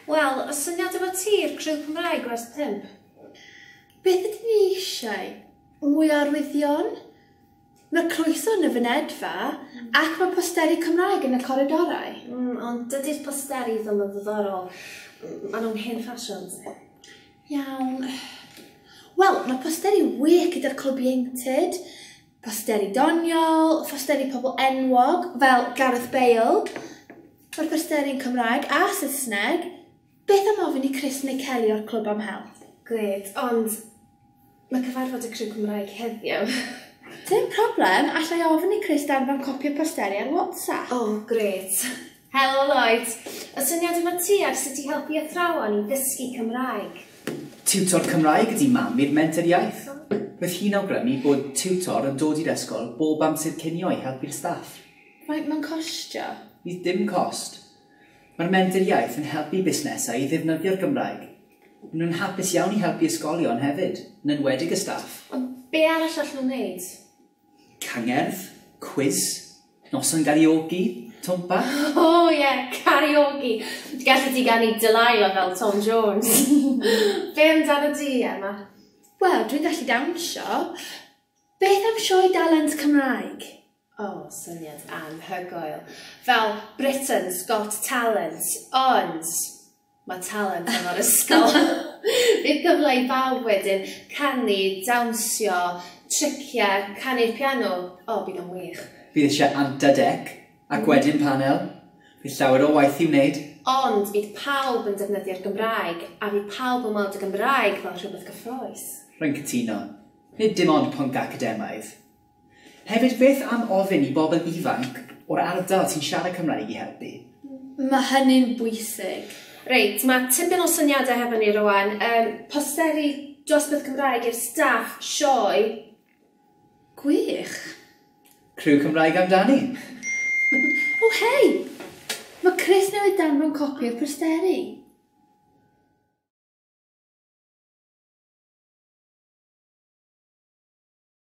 Wel, y syniad efo ti i'r criw Cymraeg gwers 5. Beth ydyn ni eisiau? Mwy o arwyddion? Mae croeso yn y fynedfa ac mae posteri Cymraeg yn y coridorau. Mm, ond dydy'r posteri ddim yn ddiddorol. Maen nhw'n hen ffasiwn. Iawn. Wel, mae posteri wych gyda'r clwb ieuenctid, posteri doniol, posteri pobl enwog fel Gareth Bale, mae'r yn Cymraeg a Saesneg, Beth am ofyn i Chris neu Kelly o'r clwb am help? Grêt, ond mae cyfarfod y criw Cymraeg heddiw. Dim problem, allai ofyn i Chris danfon copi o posteri ar WhatsApp. O, grêt. Helo Lloyd, y syniad yma ti ar sut i helpu athrawon i ddysgu Cymraeg? Tiwtor Cymraeg ydi mam i'r menter iaith. Roedd hi'n awgrymu bod tiwtor yn dod i'r ysgol bob amser cinio i helpu'r staff. Faint mae'n costio? Bydd dim cost. Mae'r Menter Iaith yn helpu busnesau i ddefnyddio'r Gymraeg. Maen nhw'n hapus iawn i helpu ysgolion hefyd, yn enwedig y staff. Ond be' arall allen nhw wneud? Cangerdd, cwis, noson gariogi, twmpa? O ie, cariogi! Gallet ti ganu Delilah fel Tom Jones. Be' amdanat ti, Emma? Wel, dwi'n gallu dawnsio. Beth am sioe dalent Cymraeg? O, syniad anhygoel. Fel Britain's Got Talent, ond mae talent efo'r ysgol. Bydd cyfle i bawb wedyn canu, dawnsio, triciau, canu'r piano. O, bydd o'n wych. Bydd eisiau anta dec, ac wedyn panel. Bydd llawer o waith i wneud. Ond bydd pawb yn defnyddio'r Gymraeg, a fydd pawb yn weld y Gymraeg fel rhywbeth cyffroes. Rwy'n cytuno. Nid dim ond pwnc academaidd. Hefyd, beth am ofyn i bobl ifanc o'r ardal sy'n siarad Cymraeg i helpu? Mae hynny'n bwysig. Reit, mae tipyn o syniadau hefo ni rwan. Um, posteri dosbarth Cymraeg i'r staff sioe. Gwych. Criw Cymraeg amdani. o, oh, hei! Mae Chris newydd danfon copi o'r posteri.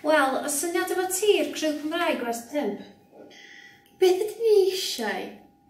Wel, y syniad efo ti i'r criw Cymraeg werth pump. Beth ydyn ni eisiau?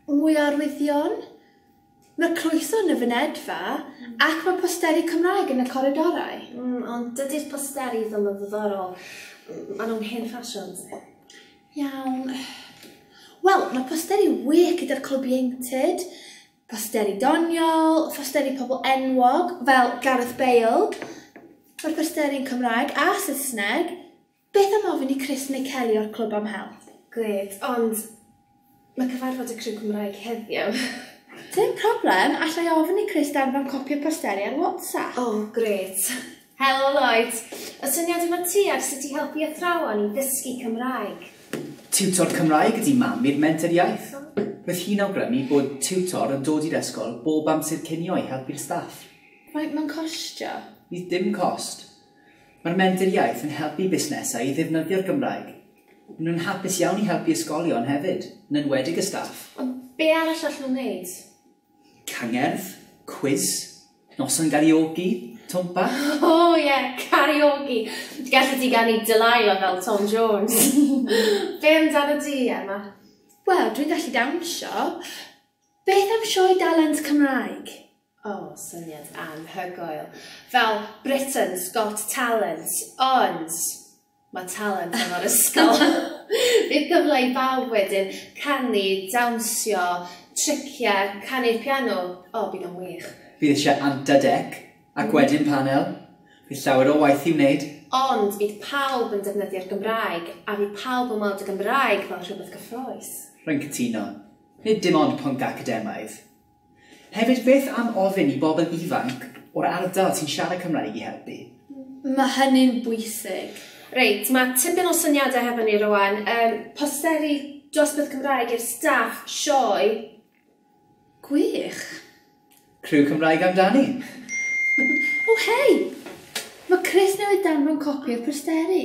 Mwy o arwyddion? Mae croeso yn y fynedfa, ac mae posteri Cymraeg yn y coridorau. Mm, ond dydy'r posteri ddim yn ddiddorol. Maen nhw'n hen ffasiwn. Iawn. Wel, mae posteri wych gyda'r clwb ieuenctid, posteri doniol, posteri pobl enwog fel Gareth Bale, mae'r posteri yn Cymraeg a Saesneg, Beth am ofyn i Chris neu Kelly o'r clwb am help? Grêt, ond mae cyfarfod y criw Cymraeg heddiw. Dim problem, alla i ofyn i Chris danfon copi o posteri ar WhatsApp. O, oh, grêt. Helo Lloyd, y syniad efo ti ar sut i helpu athrawon i ddysgu Cymraeg? Tiwtor Cymraeg ydi mam i'r Menter Iaith. Roedd hi'n awgrymu bod tiwtor yn dod i'r ysgol bob amser cinio i helpu'r staff. Faint mae'n costio? Bydd dim cost. Mae'r Menter Iaith yn helpu busnesau i ddefnyddio'r Gymraeg. Maen nhw'n hapus iawn i helpu ysgolion hefyd, yn enwedig y staff. Ond be' arall allen nhw wneud? Cangerdd, cwis, noson gariogi, twmpa? O ie, cariogi! Gallet ti ganu Delilah fel Tom Jones. Be' amdanat ti, Emma? Wel, dwi'n gallu dawnsio. Beth am sioe dalent Cymraeg? O, syniad anhygoel. Fel Britain's Got Talent, ond mae talent efo'r ysgol. Bydd cyfle i bawb wedyn canu, dawnsio, triciau, canu'r piano. O, bydd o'n wych. Bydd eisiau anta dec, ac wedyn panel. Bydd llawer o waith i wneud. Ond bydd pawb yn defnyddio'r Gymraeg, a fydd pawb yn weld y Gymraeg fel rhywbeth gyffrous. Rwy'n cytuno. Nid dim ond pwnc academaidd. Hefyd, beth am ofyn i bobl ifanc o'r ardal sy'n siarad Cymraeg i helpu? Mae hynny'n bwysig. Reit, mae tipyn o syniadau hefo ni rwan. Um, posteri dosbarth Cymraeg i'r staff sioe. Gwych. Criw Cymraeg amdani. o, oh, hei! Mae Chris newydd danfon copi o'r posteri.